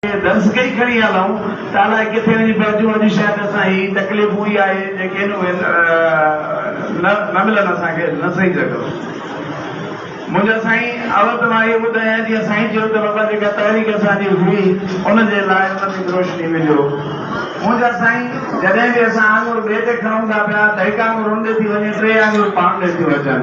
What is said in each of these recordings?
ڪي درس ڪئي کڻي هلون ته الائي ڪٿي وڃي پهچون اڄ شايد اسان هي تڪليفون ئي آهي جيڪي هن اهي نه ملن اسان کي نه سهي سگهون منهنجا سائين اول ته مان اهو ٻڌايان جيئن سائين چيو ته بابا جيڪا تحريڪ اسان جي هئي ان جي لاء ان تي به روشني وجهو منهنجا سائين جڏهن به اسان آڱر ٻئي تي کڻون ٿا پيا ته هڪ آڱر ان ڏي ٿي وڃي ٽي آڱرون پاڻ ڏي ٿيون اچن.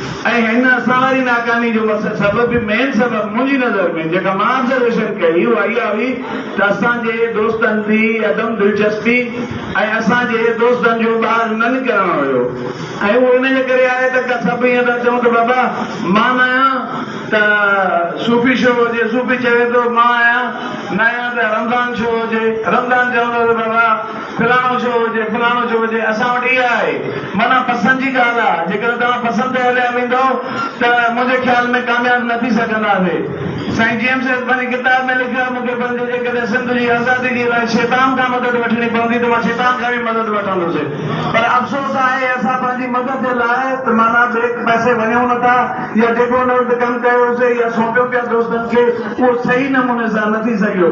۽ هن اسان واري ناڪامي جو مس سبب به مين سبب منهنجي نظر ۾ جيڪا مان آبزرويشن ڪئي اها اها هئي ته اسان جي دوستن جي عدم دلچسپي ۽ اسان جي دوستن جو ٻاهر نه نڪرڻ هيو ۽ اهو ان جي ڪري آهي ته ڪا سڀ ائين ٿا چون ته بابا مان نه آهيان ته صوفي شو هجي صوفي چوي ٿو مان آهيان نه آهيان ته رمضان شو هجي رمضان چوندو ته بابا فلاڻو ڇو هجي فلاڻو ڇو هجي اسان وٽ اها آهي معنيٰ پسند جي ڳالهه آ جيڪڏهن توهان پسند تي هليا ويندؤ ته منهنجي خيال ۾ ڪامياب نه ٿي سگهنداسي سائين جي ايم سيد پنهنجي ڪتاب ۾ لکيو آهي مونکي پنهنجي جيڪڏهن سنڌ جي آزادي جي لاء شيطان کان مدد وٺڻي پوندي ته مان شيطان کان به مدد وٺندوسي پر افسوس آهي اسان پنهنجي مدد جي لاء ته معنيٰ ٻئي پاسي وڃون نه ٿا يا جيڪو ان وقت ڪم ڪيوسي يا سونپيو پيا دوستن کي اهو صحيح نموني سان نه ٿي سگهيو.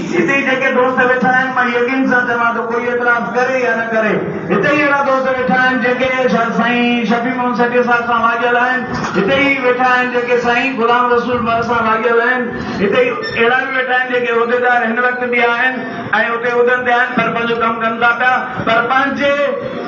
هتي ئي جيڪي دوست ويٺا آهن، مان يقين سان چوان ٿو ڪوئي اعتراض ڪري يا نه ڪري، هتي ئي اهڙا دوست ويٺا آهن جيڪي سائين شفيع محمد سيٽي صاحب سان واڳيل آهن، هتي ئي ويٺا آهن جيڪي سائين غلام رسول مھر سان واڳيل آهن، هتي ئي اهڙا به ويٺا آهن جيڪي عهديدار هن وقت به آهن ۽ اتي عهدن تي آهن پر پنهنجو ڪم ڪن ٿا پيا پر پنهنجي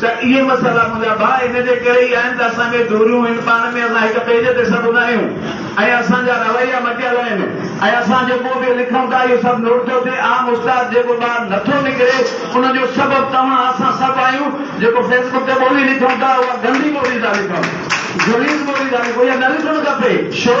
ته اهي مسئلا منهنجا ڀاء ان جي ڪري ئي آهن ته اسان کي جوريون هن پاڻ ۾ اسان هڪ پيج تي سڀ هوندا آهيون ۽ اسان جا رويا مٽيل آهن ۽ اسان جيڪو به لکون ٿا اهو سڀ نوٽ ٿو ٿئي عام استاد جيڪو ٻاهر نه ٿو نڪري ان جو سبب توهان اسان سڀ آهيون جيڪو فيسبڪ تي ٻولي لکون ٿا اها گندي ٻولي ٿا لکون غليظ ٻولي ٿا لکون اها نه لکڻ کپي شو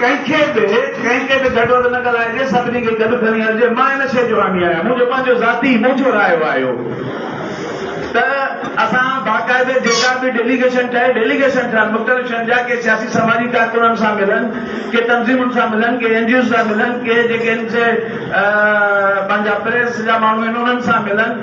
ڪنهن کي به ڪنهن تي به گهٽ وڌ نه ڳالهائجي، سڀني کي گڏ کڻي هلجي، مان ان شيء جو حامي آهيان، منهنجو پنهنجو ذاتي ٻوجهو رايو آهي اهو ته اسان باقاعده جيڪا به ڊيليگيشن ٺهي، ڊيليگيشن ٺهن مختلف شين جا، ڪي سياسي سماجي ڪارڪنن سان ملن، ڪي تنظيمن سان ملن، ڪي اين جي اوز سان ملن، ڪي جيڪي ان سي پنهنجا پريس جا ماڻهو آهن انهن سان ملن،